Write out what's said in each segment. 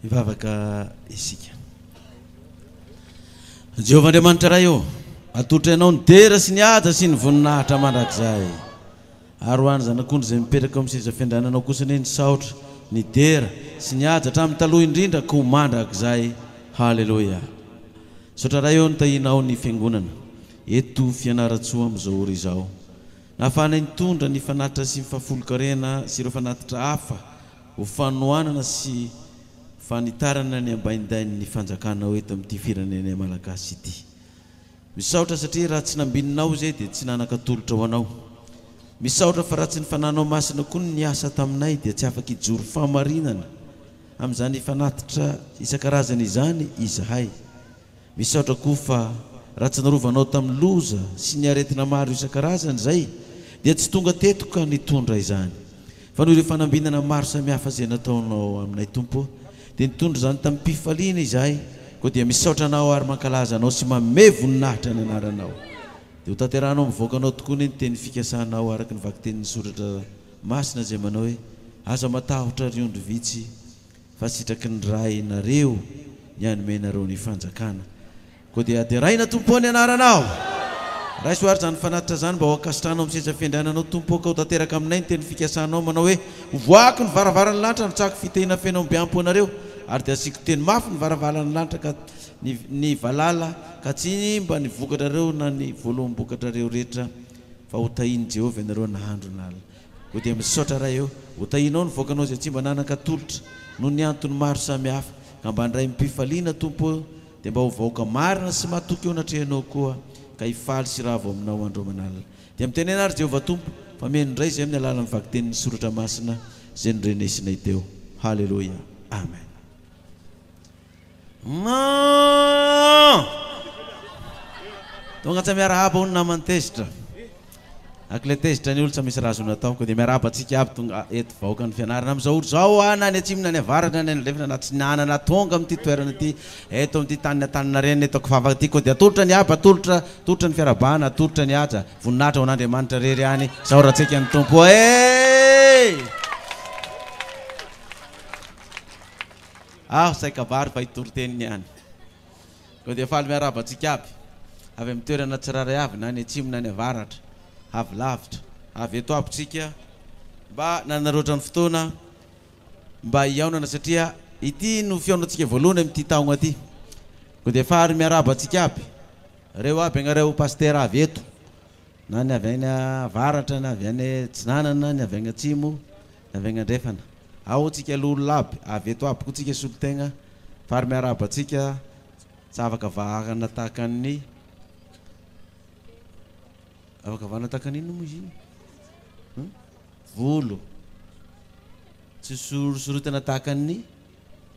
Hivavaka isika. Jehovah Andriamanitra Ray ô, atolotra Ianao ny dera sy ny haja sy ny voninahitra mandrakizay. Ary ho an'ny zanak'ondry izay mipetraka eo amin'ny seza fiandriananao kosa anie ny saotra, ny dera sy ny haja hatramin'ny taloha indrindra koa mandrakizay. Haleloia. Misaotra Ray ô nitahianao ny Fiangonana eto Fianarantsoa amin'izao ora izao. Nahafahanay nitondra ny fanatitra sy ny fahafolonkarena sy ireo fanatitra hafa Ho fanohanana sy fanitarana ny ambaindain'ny fanjakanao eto amin'ity firenenay Malagasy ity. Misaotra satria raha tsy nambininao izay dia tsy nanan-katolotra ho anao. Misaotra fa raha tsy ny fananao masina koa no niasa taminay dia tsy afaka hijoro fahamarinana amin'izany fanatitra isan-karazany izany izahay. Misaotra koa fa raha tsy narovanao tamin'ny loza sy ny aretina maro isan-karazany izay dia tsy tonga teto ka nitondra izany. Fa noho ireo fanambinana maro samihafa izay nataonao aminay Tompo ô, dia nitondra izany tamim-pifaliana izahay, koa dia misaotra Anao ary mankalaza Anao sy manome voninahitra ny Anaranao. Dia hotanterahanao amin'ny vahoakanao tokoa anie ny teny fikasanao araka ny vakitenin'ny soratra masina izay manao hoe, Aza matahotra ry ondry vitsy, Fa sitraky ny Ray nareo ny hanome nareo ny fanjakana. Koa dia deraina Tompo ô ny anaranao! Raiso ary izany fanatitra izany mba ho ankasitrahanao amin'ny seza fiandriananao Tompo ô ka ho tanteraka aminay ny teny fikasanao manao hoe hovoahako ny varavaran'ny lanitra handrotsahako fitehina feno ambiampo anareo ary dia hasiako teny mafy ny varavalan'ny lanitra ka ny valala ka tsy himba ny vokatrareo na ny voaloham-bokatrareo rehetra fa ho tahin'i Jehovah ianareo nahandro na Koa dia misaotra Ray ô! Ho tahianao ny vahoakanao izay tsy mba nanan-katolotra noho ny antony maro samihafa, ka mba handray amim-pifaliana Tompo ô! Dia mba ho vahoaka marina sy matoky eo anatrehanao koa, ka hifaly sy hiravo aminao andro aman'alina. Dia mitenena ary Jehovah Tompo, fa mihaino indray izahay amin'ny alalan'ny vakitenin'ny soratra masina izay nodrenesinay teo. Haleloia! Amen. Maaa! Tonga tsa miarahaba hono naman'ny tezitra. Ak le tezitra ny olotsa misy raha azony atao ko dia miarahaba antsika aby tonga eto vahoakan'ny fianarana amin'izao ora izao a na any atsimo na any avaratra na any andrefana na atsinanana tonga amin'ity toerana ity eto amin'ity tanin'ny Antaninarenina eto Akofafaka ity ko dia atolotra ny haba atolotra atolotra ny fiarahabana atolotra ny haja voninahitra ho an'Andriamanitra rery ihany izao raha tseky an'ny Tompo eh Aho tsy hay kabary fa i toriteny niany. Koa dia faly miarahaba antsika aby, avy amin'ny toerana tsirairay avy na any atsimo na any avaratra, avy lavitra, avy eto aby tsika mba nanaroatra ny fotoana mba hihaonana satria ity no fihaonantsika voalohany amin'ity taogna ity. Koa dia faly miarahaba antsika aby, reo aby agnareo Pasitera avy eto. Na ny avy any avaratra, ny avy any atsinanana, ny avy any atsimo, ny avy any andrefana. Ao tsika aloha olona aby, avy eto aby koa tsika solotegna, fary miarahaba antsika, tsy afaka vahana tahaka ny, afaka vahana tahaka ny inona moa izy iny? Volo, tsy sorosorotana tahaka ny.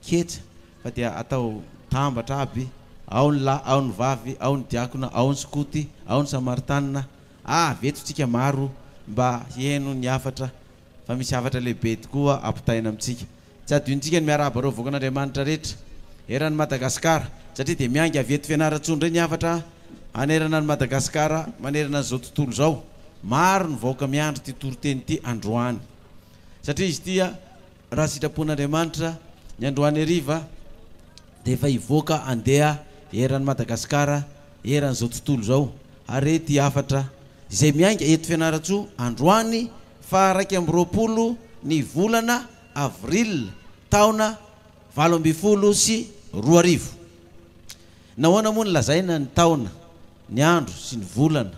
Ketsa, fa dia atao tambatra aby, ao ny lahy, ao ny vavy, ao ny diakona, ao ny skoty, ao ny samaritanina, avy eto tsika maro mba hihaino ny hafatra fa misy hafatra lehibe tokoa ampitaina amintsika. Tsy adinontsika ny miarahaba ireo vahoakan'Andriamanitra rehetra eran'i Madagasikara satria dia miainga avy eto Fianarantsoa indray ny hafatra hanerana an'i Madagasikara manerana an'izao tontolo izao. Maro ny vahoaka miandry ity toriteny ity androany satria izy ity Raha sitrapon'Andriamanitra, ny androany hariva dia efa hivoaka handeha eran'i Madagasikara eran'izao tontolo izao harety hafatra izay miainga eto Fianarantsoa androany faha iraika amby roapolo ny volana avril taona valo ambin'ny folo sy roa arivo. Nahoana moa no lazaina ny taona, ny andro sy ny volana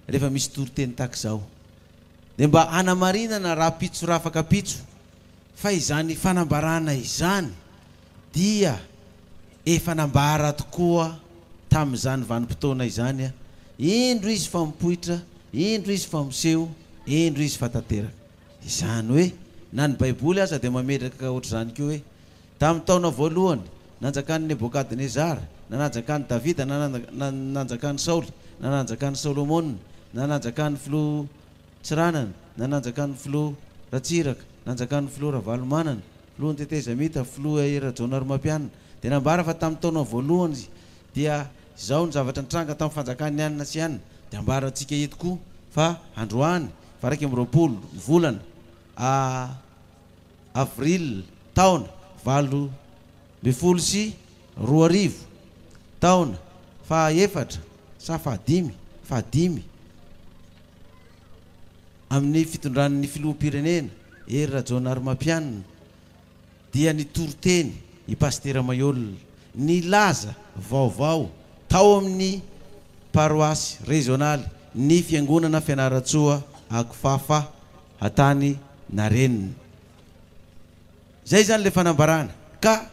rehefa misy toriteny tahaka izao? dia mba hanamarinana rahampitso rafakampitso fa izany fanambarana izany dia efa nambara tokoa tamin'izany vanim-potoana izany, indro izy fa mipoitra, indro izy fa miseho, indro izy fa tanteraka. Izany hoe na ny Baiboly aza dia mametraka ohatr'izany koa hoe Tamin'ny taona voalohany nanjakan'i Nebokadnezara, na nanjakan'i Davida, na nanjakan'i Saoly, na nanjakan'i Solomona, na nanjakan'ny filoha Tsiranana, na nanjakan'ny filoha Ratsiraka, nanjakan'ny filoha Ravalomanana, filohan'ny tetezamita, filoha I Rajaonarimampianina, dia nambara fa tamin'ny taona voalohany dia izao ny zavatra nitranga tamin'ny fanjakan'ny anona sy anona, dia ambarantsika eto koa fa androany varaika amby roapolo ny volana, a. Avril, taona valo ambin'ny folo sy roa arivo, taona fahaefatra sa fahadimy, fahadimy, amin'ny fitondran'ny Filoham-pirenena Hery Rajaonarimampianina dia nitory teny i Pasitera Maihol nilaza vaovao tao amin'ny paroasy rezionaly ny Fiangonana Fianarantsoa Akofafa hatany na reniny. Izay izany ilay fanambarana ka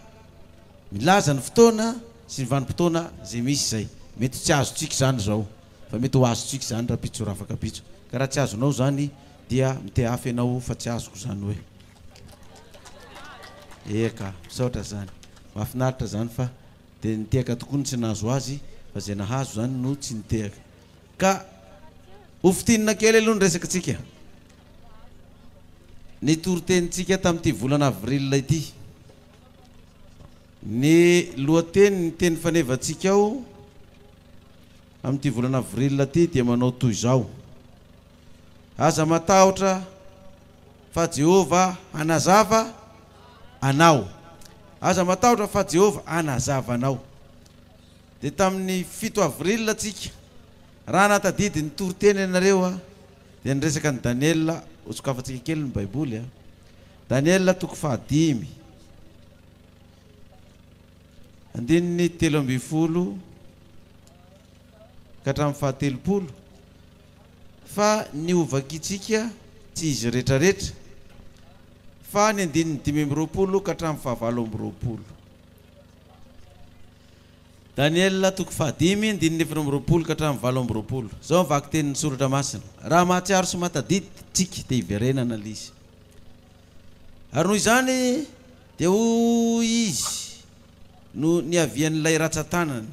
milaza ny fotoana sy ny vanim-potoana izay misy izay. Mety ho tsy azontsika izany izao fa mety ho azontsika izany rapitso rafakapitso. Ka raha tsy azonao izany dia mitehafy ianao fa tsy azoko izany hoe. Eeh ka, misaotra izany. Mahafinaritra izany fa dia nitehaka tokoa ny tsy nahazo azy fa izay nahazo izany no tsy nitehaka. Ka ho fintinina kely aloha ny resakantsika. Ny toritenintsika tamin'ity volana avril ity. Ny lohatenin'ny teny fanevantsika ao amin'ity volana avril ity dia manao toy izao, Aza matahotra fa Jehovah hanazava anao. Aza matahotra fa Jehovah hanazava anao. Dia tamin'ny fito avril tsika, raha nahatadidy ny toriteny ianareo aho, dia niresaka an'i Daniela, hosokafantsika kely ny baiboly a, Daniela toko fahadimy, andininy telo ambin'ny folo ka hatramin'ny fahatelopolo, fa ny hovakintsika tsy izy retraretra, fa ny andininy dimy amby roapolo ka hatramin'ny fahavalo amby roapolo. Daniela toko fahadimy, andininy efatra amby roapolo ka hatramin'ny valo amby roapolo. Izao ny vakitenin'ny soratra masina, Raha mahatsiaro sy mahatadidy tsika dia hiverenana ilay izy. Ary noho izany dia hoy izy no niavian'ilay ratsan-tanana.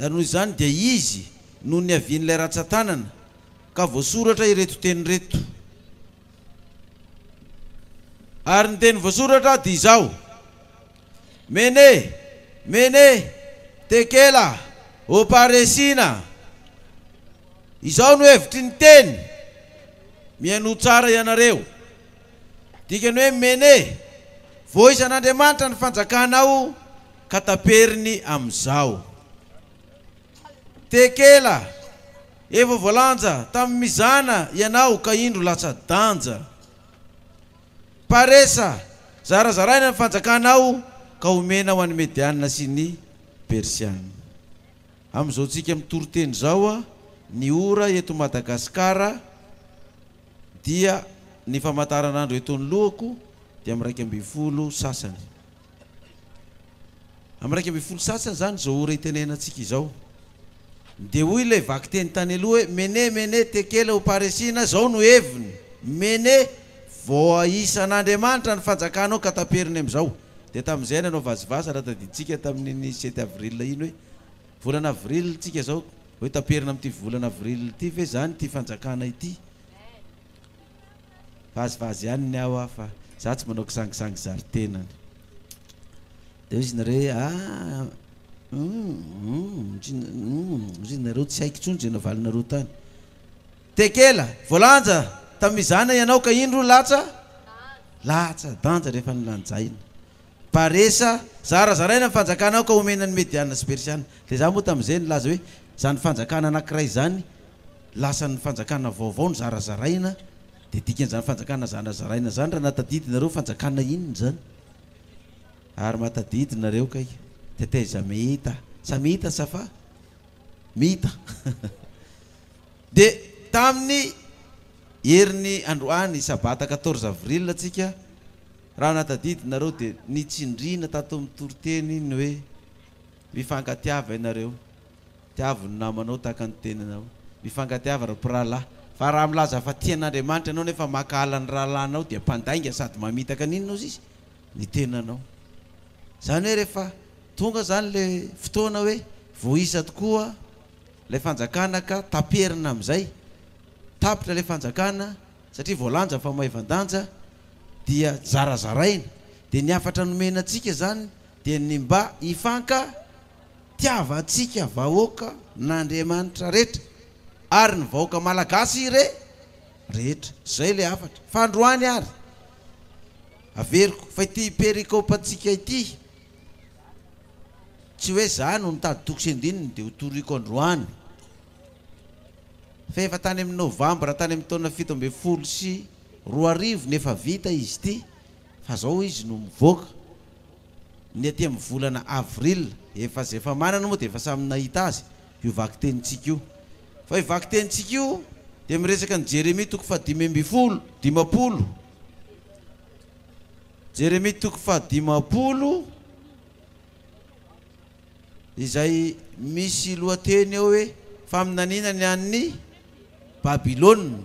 Ary noho izany dia izy no niavian'ilay ratsan-tanana ka voasoratra ireto teny ireto. Ary ny teny voasoratra dia izao, Mene, Mene, Tekela, Oparesina. Izao no hevitry ny teny, Mihainoa tsara ianareo. Dikany hoe Mene, Voizan'Andriamanitra ny fanjakanao ka taperiny amin'izao. Tekela. Efa voalanja tamin'ny mizana ianao ka indro latsa-danja. Paresa, zarazaraina ny fanjakanao ka omena ho an'ny Medianina sy ny Persianina. Amin'izao tsika mitoriteny izao a, ny ora eto Madagasikara dia ny famataran'andro eto anoloako dia amin'ny iraika ambin'ny folo sasany. Amin'ny iraika ambin'ny folo sasany izany izao ora itenenantsika izao. Dia hoy ilay vakiteny tany aloha hoe, Mene, mene, tekela ou paresina, izao no heviny, Mene, voaisan'Andriamanitra ny fanjakanao ka taperiny amin'izao. Dia tamin'izay nanao vazivazy, raha tadidintsika tamin'iny sept avril iny hoe, volana avril tsika izao, hoe taperina amin'ity volana avril ity ve izany ity fanjakana ity? Vazivazy ihany ny ao a fa za tsy manao kisangisangy zary tenany. De hoy izy nareo hoe ah hum hum hoy izy nareo tsy haiko intsony ze navalinareo tany. Tekela, voalanja tamin'izany ianao ka indro latsa latsa danja rehefa nilanjaina. Paresa, Zarazaraina ny fanjakana aoka omena ny Mediana sy Persiana. Dia izaho moa tamin'izay nilaza hoe, Izany fanjakana anankiray izany, lasan'ny fanjakana vaovao no zarazaraina, dia dikan'izany fanjakana zarazaraina izany raha nahatadidinareo fanjakana inona izany? Ary mahatadidy nareo kay. Teteza Mehita, Samita sa fa? Mita. Dia tamin'ny herin'ny androany, sabata quatorze avril, antsika, Raha natadidinareo dia nitsindriana tato amin'ny toriteny ny hoe, Mifankatiava ianareo. Tiavo ny namanao tahaka ny tenanao. Mifankatiava ry mpirahalahy. Fa raha milaza fa tia an'Andriamanitra ianao nefa mankahala ny rahalahinao dia mpandainga sady mamitaka an'inona ozy izy? ny tenanao. Izany hoe rehefa tonga izany ilay fotoana hoe voaisa tokoa ilay fanjakana ka taperina amin'izay, tapitra ilay fanjakana, satria voalanja fa maivan-danja dia zarazaraina, dia ny hafatra nomena antsika izany dia ny mba hifankatiavantsika vahoaka n'Andriamanitra rehetra ary ny vahoaka malagasy re rehetra, izay ilay hafatra, fa androany ary averiko fa ity perikope antsika ity tsy hoe za no nitady toko sy andininy dia ho toriko androany. Fa efa tany amin'ny novambra tany amin'ny taona fito ambin'ny folo sy roa arivo no efa vita izy ity fa izao izy no mivoaka. Ny aty amin'ny volana avril efa izay efa manana moa dia efa samy nahita azy io vakitenintsika io. Fa io vakitenintsika io dia miresaka ny Jeremia toko fahadimy ambin'ny folo, dimampolo. Jeremia toko fahadimampolo. izay misy lohateny eo hoe Faminaniana ny an'ny Babylona,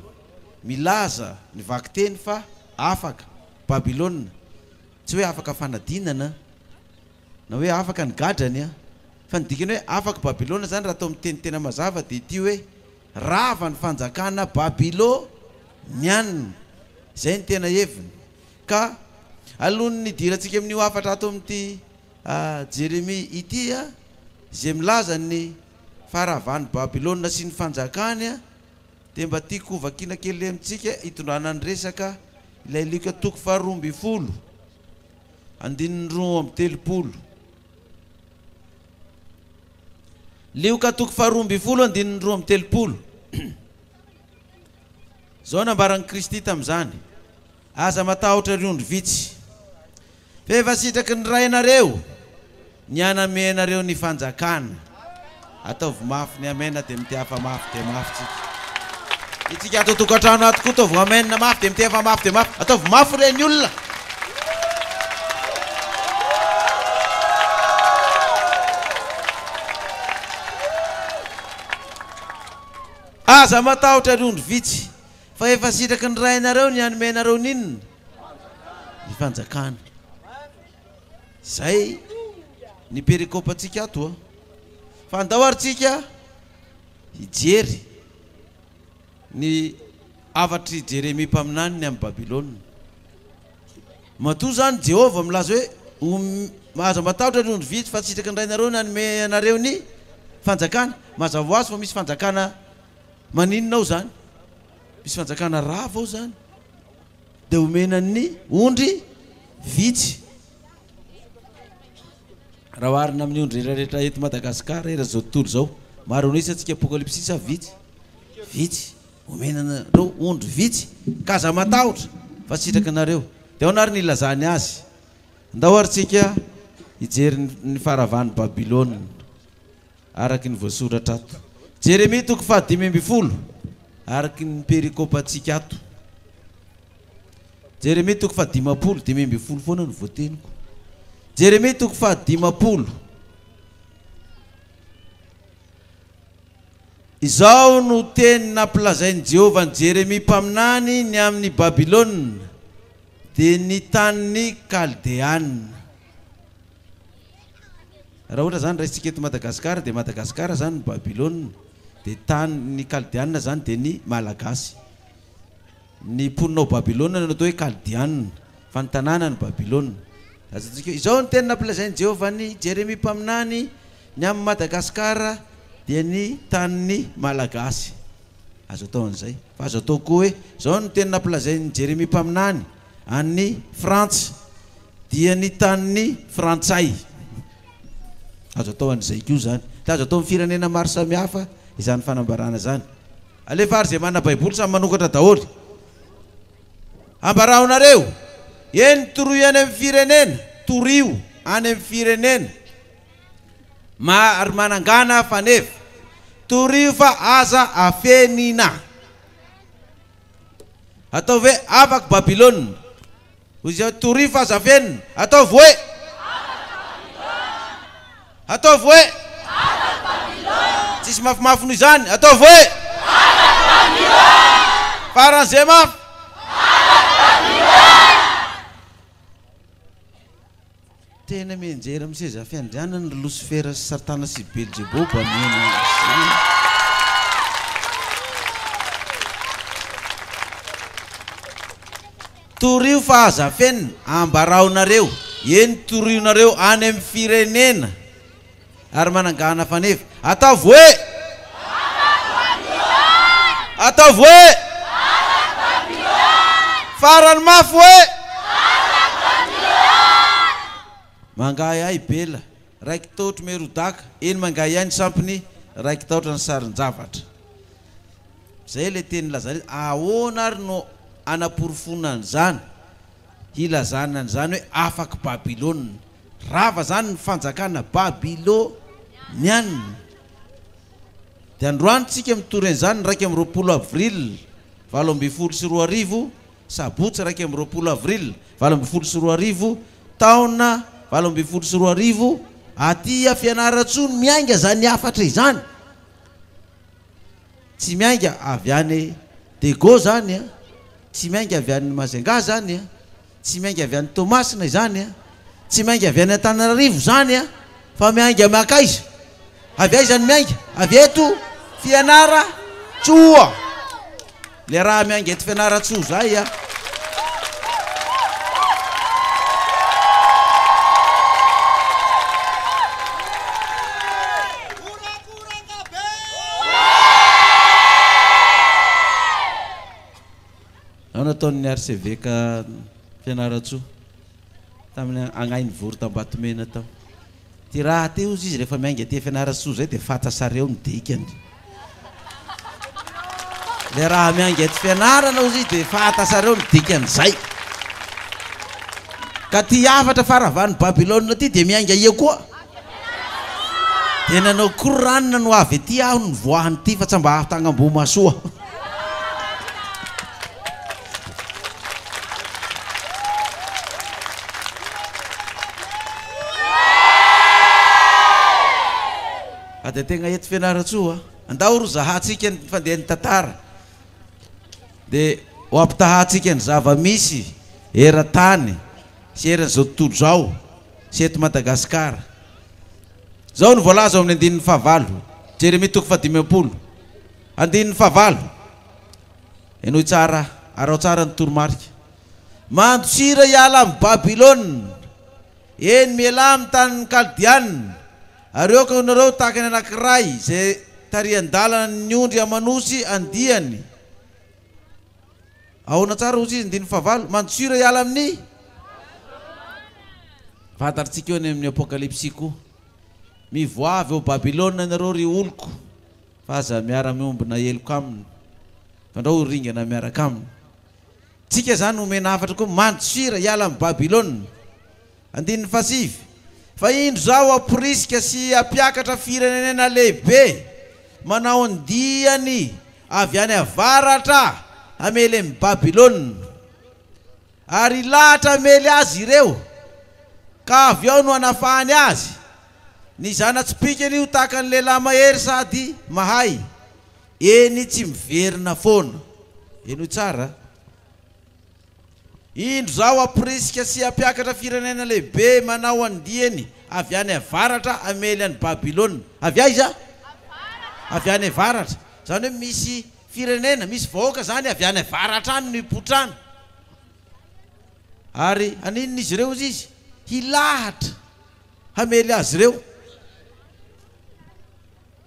milaza ny vakiteny fa afaka Babylona, tsy hoe afaka fanadinana na hoe afaka ny gadrany an, fa ny dikany hoe afaka Babylona izany raha atao amin'ny teny tena mazava dia ity hoe rava ny fanjakana Babyloniana, izay no tena heviny ka alohan'ny hidirantsika amin'io hafatra ato amin'ity A Jeremia ity a, izay milaza ny faharavan'i Babylona sy ny fanjakany a, dia mba tiako ho vakiana kely amintsika hitondrana ny resaka ilay Lioka toko faharoa ambin'ny folo, andininy roa amby telopolo. Lioka toko faharoa ambin'ny folo andininy roa amby telopolo. Izao nambaran'i Kristy tamin'izany, Aza matahotra ry ondry vitsy, Fa efa sitraky ny Rainareo ny haname anareo ny fanjakana. Ataovy mafy ny Amen dia miteha fa mafy dia mafy tsika. Itsika ato tokantrano ato koa ataovy Amen mafy dia miteha fa mafy dia mafy. Ataovy mafy re ny olona. Aza matahotra ry ondry vitsy fa efa sitraky ny Rainareo ny hanome anareo ny inona? ny fanjakana. Zay ny pericope antsika ato a. Fa andao ary tsika hijery ny hafatr'i Jeremia mpaminany ny amin'i Babylona. Matoa zany Jehovah milaza hoe ho aza matahotra ry ondry vitsy fa sitraky ny Rainareo ny hanome anareo ny fanjakana. Mazava hoazy fa misy fanjakana maninona ao zany? Misy fanjakana rava ao zany. dia homena ny ondry vitsy. Raha oharina amin'ny ondry rehetrarehetra eto Madagasikara eran'izao tontolo izao, maro anao isa antsika apokalypsy sa vitsy? Vitsy. Homena anareo ondry vitsy ka aza matahotra fa sitraka anareo. Dia ahoana ary ny ilazany azy? Andao ary tsika hijery ny faharavan'i Babylona. Araka ny voasoratra ato. Jeremia toko fahadimy ambin'ny folo, araka ny perikopantsika ato. Jeremia toko fahadimampolo, dimy ambin'ny folo foana no voateniko. Jeremia toko fahadimampolo. Izao no teny nampilazain'i Jehovah an'i Jeremia mpaminany ny amin'i Babylona, dia ny tanin'ny Kaldeana. Raha ohatra zany raisintsika eto Madagascar dia Madagascar zany ny Babylona dia tany ny kaldianina zany dia ny Malagasy. Ny mponina ao Babylona no atao hoe kaldianina fa ny tanàna no Babylona. Azontsika izao ny teny nampilazain'i Jehovah an'i Jeremia mpaminany ny amin'i Madagascar dia ny tanin'ny Malagasy. Azo atao an'izay. Fa azo atao koa hoe izao ny teny nampilazain'i Jeremia mpaminany. An'i Frantsa dia ny tanin'ny Frantsay. Azo atao an'izay koa izany. Dia azo atao amin'ny firenena maro samihafa izany fanambarana izany. Alefa ary izay manana Baiboly samy manokatra daholo. Ambaraho nareo, eny toroy any amin'ny firenena, torio any amin'ny firenena maro manangana faneva. Torio fa aza afenina. Ataovy hoe, Afaky Babylona! Hoy izy hoe, Torio fa aza fenina! Ataovy hoe, Afaky Babylona! Ataovy hoe, Afaky Babylona! Tsisy mafimafy noho izany! Ataovy hoe, Afaky Babylona! Faran'izay mafy! Afaky Babylona! Tena mianjera amin'ny seza fiandrianany ry Losifera sy Satana sy Belzeboba mihena izany. Torio fa aza fenina, ambarao nareo, eny torionareo any amin'ny firenena. Ary manangana faneva. Ataovy hoe! Ataovy hoe! Farany mafy hoe! Mangahiahy Bela, raiki-taotr'i Merodaka, eny mangahiahy ny sampiny, raiki-taotra ny sarin-javatra. Izay ilay teny nilazana izy. Ahoana ary no hanaporofoana an'izany, hilazana an'izany hoe afaky Babylona? Rava izany ny fanjakana Babylonianina. Dia androany tsika mitory an'izany, iraika amby roapolo avril valo ambin'ny folo sy roa arivo, sabotsy iraika amby roapolo avril valo ambin'ny folo sy roa arivo, taona valo ambin'ny folo sy roa arivo, aty a Fianarantsoa no miainga izany hafatra izany. Tsy miainga avy any Dego izany a, tsy miainga avy any Majunga izany a, Tsy miainga avy any Toamasina izany a! Tsy miainga avy any Antananarivo izany a! Fa miainga makaiza? Avy aiza no miainga? Avy eto Fianarantsoa! Le raha miainga eto Fianarantsoa izay a! Nahoana nataon'ny arseveka Fianarantsoa tamin'ny agnahiny vory t'Ambatomena tao? Ty raha ty ozy izy rehefa miainga aty Fianarantsoa zay dia fantasary eo ny dikany. Le raha miainga eto Fianarana ozy izy dia fantasary eo ny dikany zay. Ka ty hafatra fara avy any Babylona ty dia miainga eo koa. Dia nanao Qur'an no avy aty aho no nivoahany ity fa tsa mba ato agn'Ambohimahasoa aho. Fa dia tegna eto Fianarantsoa a. Andao ro zahantsika ny fandehan'ny tantara. Dia ho ampitahantsika ny zava-misy eran-tany sy eran'izao tontolo izao sy eto Madagasikara. Izao no voalaza ao amin'ny andininy fahavalo, Jeremia toko faha dimy am-polo, andininy fahavalo, Henoy tsara, araho tsara ny toromarika. Mandosira hiala amin'i Babylona, eny, mialà amin'ny tanin'ny Kaldiana, ary aoka ianareo ho tahaka ny anankiray izay tarihan-dalana ny ondry aman'osy andiany, Ahoana tsara hozy izy andininy fahavalo? Mandosio re hiala amin'ny vatarintsika eo any amin'ny Apokalypsy koa. Mivoaha avy ao Babylona ianareo ry oloko fa aza miara-miombona heloka aminy fa ndrao ho ringana miaraka aminy. Tsika izany omena hafatra koa, mandosira hiala amin'i Babylona. Andininy fahasivy, Fa indro izao hamporisika sy hampiakatra firenenena lehibe manao ny diany avy any avaratra hamely an'i Babylona, ary hilahatra hamely azy ireo, ka avy ao no hanafahany azy, ny zana-tsipìkany ho tahaka ny lehilahy mahery sady mahay, eny tsy miverina foana. Henoy tsara. Indro izao hamporisika sy hampiakatra firenena lehibe manao andiany avy any avaratra hamely an'i Babylona. Avy aiza? Avy any avaratra. Izany hoe misy firenena, misy vahoaka izany avy any avaratra any no hipotrana. Ary haninona izy ireo, hoy izy? Hilahatra hamely azy ireo.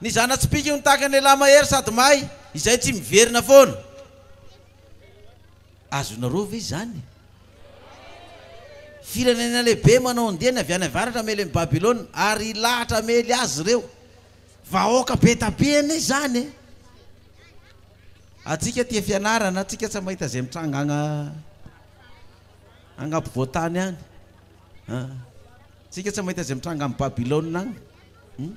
Ny zana-tsipìka no tahaka ny lehilahy mahery sady may, izay tsy miverina foana. Azonareo ve izany? Firenena lehibe manao andiany avy any avaratra hamely an'i Babylona, ary hilahatra hamely azy ireo. Vahoaka be dia be anie izany e! Antsika tia fianarana, antsika tsy mahita izay mitranga agny agny ampovoan-tany any an! Antsika tsy mahita izay mitranga any Babylona agny.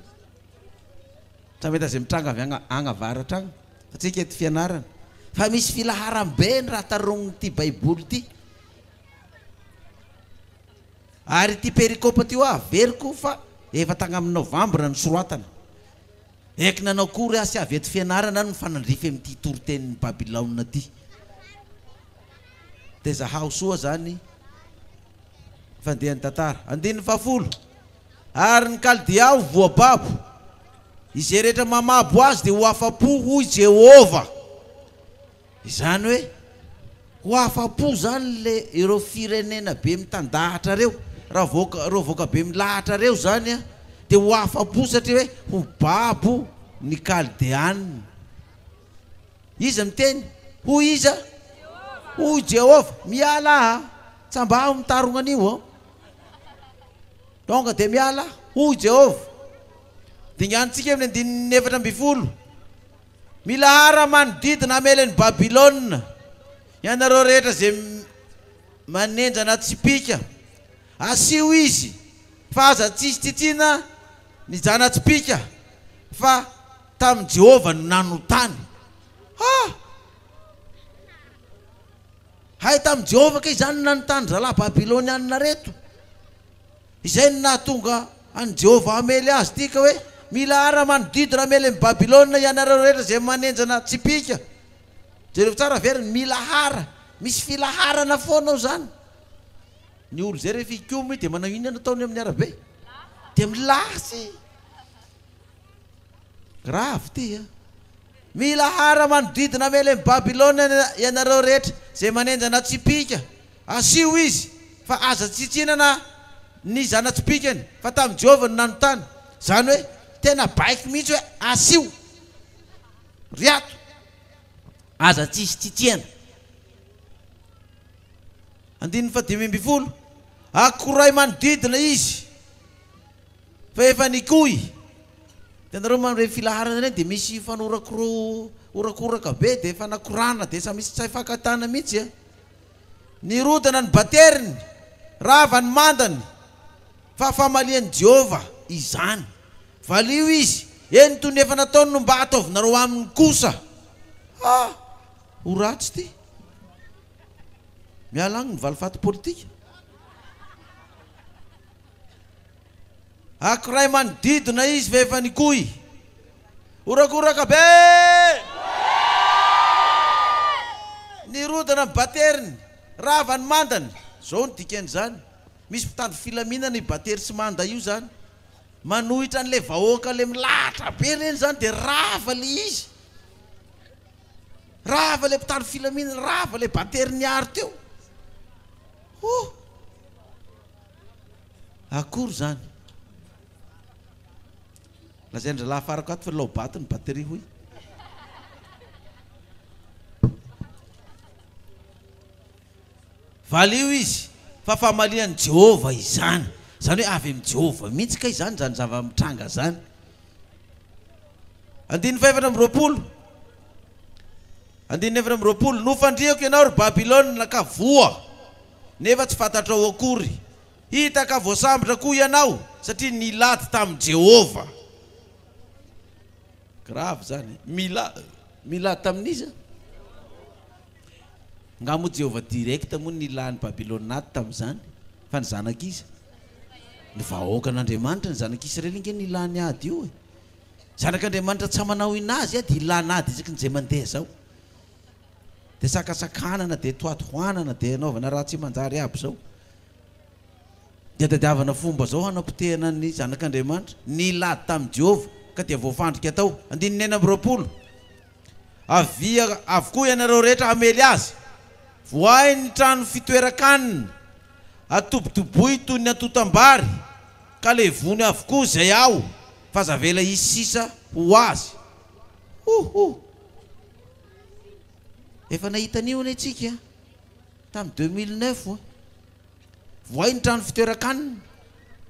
Tsy mahita izay mitranga avy agny agny avaratra agny antsika eto fianarana fa misy filaharam-be ny raha taronin'ity baiboly ity. Ary ity perikopa ity hoa averiko fa efa tagnamin'ny novambra no soratana. Eky nanao kory aho sy avy eto fianarana no mifanandrify amin'ity toritenin'i Babilaona ity. Dia zahaho soa zany fandehan'ny tantara. Andininy fahafolo. Ary ny Kaldea ho voababo. Izay rehetra mamabo azy dia ho afa-po, hoy Jehovah. Izany hoe, ho afa-po izany ilay, ireo firenena be mitandahatra ireo, raha vahoaka, ireo vahoaka be milahatra ireo izany, dia ho afa-po satria hoe ho babo ny Kaldeana. Iza miteny? Hoy iza? Hoy Jehovah. Mialà a! Tsambaho ny tarogna anio ô! Tonga dia miala, hoy Jehovah. Dinganintsika amin'ny andininy efatra ambin'ny folo, Milahara manodidina hamelen'i Babylona, ianareo rehetra izay manenjana tsipìka. Asio izy fa aza tsisy tiatiana ny zana-tsipìka, fa tamin'i Jehovah no nanotany. Ah! Hay tamin'i Jehovah kay izany ny nanontany rahalahy babylonianina ireto. Izay no nahatonga an'i Jehovah hamely azy ity ka hoe, Mila ara-manodidy ramely amin'i Babylona ianareo rehetra izay manenjana tsipìka. Jereo tsara very ny milahara. Misy filaharana foana ao izany. Ny olona izay rehefa hikomy dia manao inona no ataony amin'ny arabe? Dia milasy. Grave ty a! Mila hara manodidina Amelem Babylona ianareo rehetra zay manenjana tsipika, asio izy fa aza tsitsinana ny zanatsipikany fa tamin'i Jehovah no nanontany, zany hoe tena baiko mihitsy hoe asio ry ato, aza tsisy tsitsiana. Andininy fahadimy ambin'ny folo, Akorahy manodidina izy. Fa efa nikoy. Hitanareo man reny filaharana ireny dia misy fanorakoraorakoraka be dia efa nakorana dia efa misy tsy hay fankatana mihitsy a. Nirodana ny bateriny, rava ny mandany, fa famalian'i Jehovah izany. Valio izy, eny toy ny efa nataony no mba ataovinareo aminy kosa. Ha! ho ratsy ity. Miala agny ny valifaty politika. Ankiray manodidina izy fa efa nikoy. Horakoraka be! Nirodana ny bateriny, rava ny mandany. Zao ny dikan'izany, misy mpitandro filaminana io batery sy manda io zany, manohitra an'le vahoaka le milahatra be reny zany de rava le izy. Rava le mpitandro filaminana, rava le batery niaro teo. Ohh. Akory zany? Lazain-dry lahy afarako ato fa laobato ny batterie hoy. Valio izy fa famalian'i Jehovah izany. Izany hoe avy amin'i Jehovah mihitsy kay izany izany zava-mitranga izany. Andininy fahefatra amby roapolo. Andininy efatra amby roapolo. Nofandrihako ianao, ry Babylona, ka voa. nefa tsy fantatrao akory. Hita ka voasambotra koa ianao satria nilady tamin'i Jehovah. Grave izany e! Mila, milady tamin'iza? Angaha moa Jehovah direct moa nilà ny Babylonianina tamin'izany? Fa ny zanak'iza? Ny vahoakan'Andriamanitra. Ny zanak'Israely ange nilà ny ady io e! Zanak'Andriamanitra tsy amanao in'azy ady, ilana ady isakin'izay mandeha izao. Dia sakasakanana, dia tohatohanana, dia anaovana raha tsy manjary aby izao. Dia tadiavana fomba izao hanapotehana ny Zanak'Andriamanitra, nilady tamin'i Jehovah, ka dia voafandrika tao. Andininy enina amby roapolo, Avia avokoa ianareo rehetra hamely azy. Voahy ny trano fitoeran-kanina, atobotoboy toy ny antontam-bary, ka levony avokoa izay ao, fa aza avela hisy sisa ho azy. Ho ho! Efa nahita an'io anie tsika tamin'ny deux mille neuf oa. Vohay ny trano fitoeran-kanina,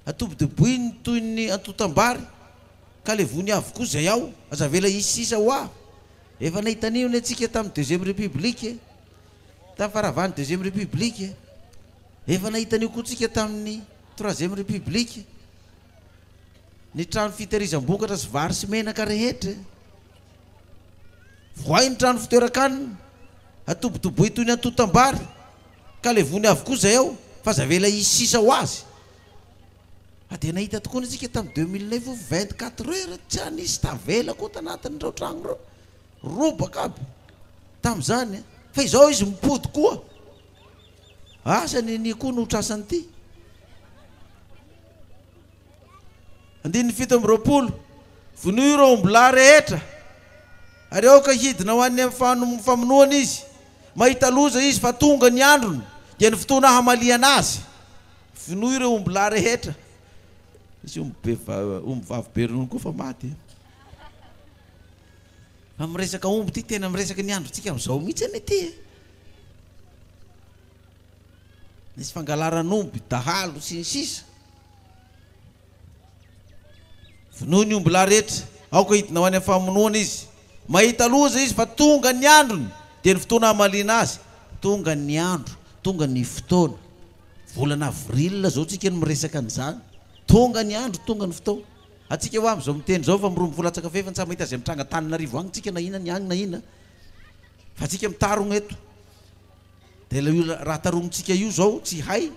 atobodoboiny toy ny antontam-bary ka levony avokoa izay ao, aza avela hisy sisa oa. Efa nahita an'io anie tsika tamin'ny deuxième république, tamin'ny faravan'ny deuxième république. Efa nahita an'io koa tsika tamin'ny troisième république, ny trano fitehirizam-bokatra sy vary sy menaka rehetra. Vohay ny trano fitoeran-kanina, atobotoboy toy ny antontam-bary, ka levony avokoa izay ao fa aza avela hisy sisa ho azy. Fa dia nahita tokoany isika tamin'ny deux mille neuf io vingt quatre heures tsy anisy tavela akoa tanatin'ireo trano ireo, robaka aby tamin'izany fa izao izy mipody koa. Asa nenia koa no ho trasan'ity? Andininy fito amby roapolo, Vonoy ireo ombilahy rehetra, ary aoka hidina ho any amin'ny famonoana izy. Mahita loza izy fa tonga ny androny, dia ny fotoana hamaliana azy. Vonoy ireo ombilahy rehetra. Nisy ombivavy be ronono koa fa maty. Fa miresaka omby ity, tena miresaka ny androntsika amin'izao mihitsy anie ity e! Nisy fangalaran'omby, dahalo, sy ny sisa Vonoy ny omby lahy rehetra, aoka hidina ho any amin'ny famonoana izy. Mahita loza izy fa tonga ny androny, dia ny fotoana hamaliana azy. Tonga ny andro, tonga ny fotoana. Volana avril izao tsika no miresaka an'izany. Tonga ny andro, tonga ny fotoana. Antsika hoa amin'izao miteny izao fa miromboka ho latsaka fefy, tsy mahita izay mitranga Antananarivo agny tsika na inona ny agny na inona fa antsika mitarogna eto. Dia ilay io raha taromintsika io izao tsy hay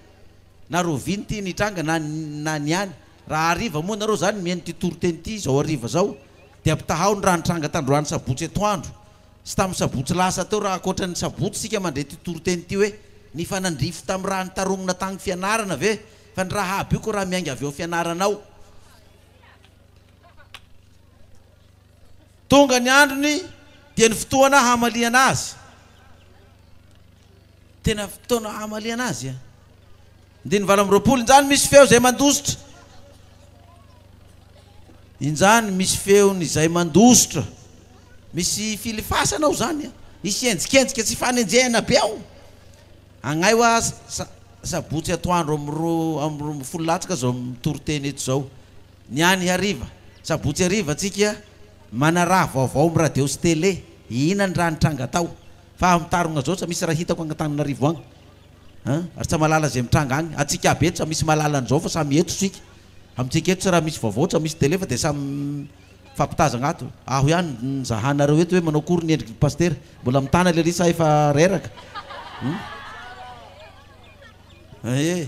na rahoviana ity ny hitranga na na ny any. Raha hariva moa nareo izany mihaino ity toriteny ity izao hariva izao dia ampitahao ny raha nitranga tandroany sabotsy atoandro sy tamin'ny sabotsy lasa teo raha ankoatra ny sabotsy isika mandre ity toriteny ity hoe nifanandrify tamin'ny raha nitaromina tagny fianarana ve fa ny raha aby io ko raha miainga avy ao fianarana ao. Tonga ny androny dia ny fotoana hamaliana azy. Tena fotoana hamaliana azy a! Andininy valo amby roapolo, injany misy feo izay mandositra. Injany misy feon' izay mandositra. Misy filifasana ao izany a! Hisy enjikenjika sy fanenjehana be ao. Agnay hoa sa- sabotsy atoandro amin'ny roa amby roa ambin'ny folo latsaka izao mitoriteny eto izao. Ny any hariva, sabotsy hariva tsika manaraha vaovao am radio sy tele, ihinan raha nitranga tao, fa aho mitarogna zao tsa misy raha hitako agny Antananarivo agny an, ary tsa malala ze mitranga agny, atsika aby eto tsa misy malala anizao fa samy eto tsika, amitsika eto tsa raha misy vaovao tsa misy tele fa de samy mifampitazagna ato, aho ihany nizahanareo eto hoe manao akory ny endriky ny pasitera, mbola mitana lery sa efa reraka? Hum. Aie.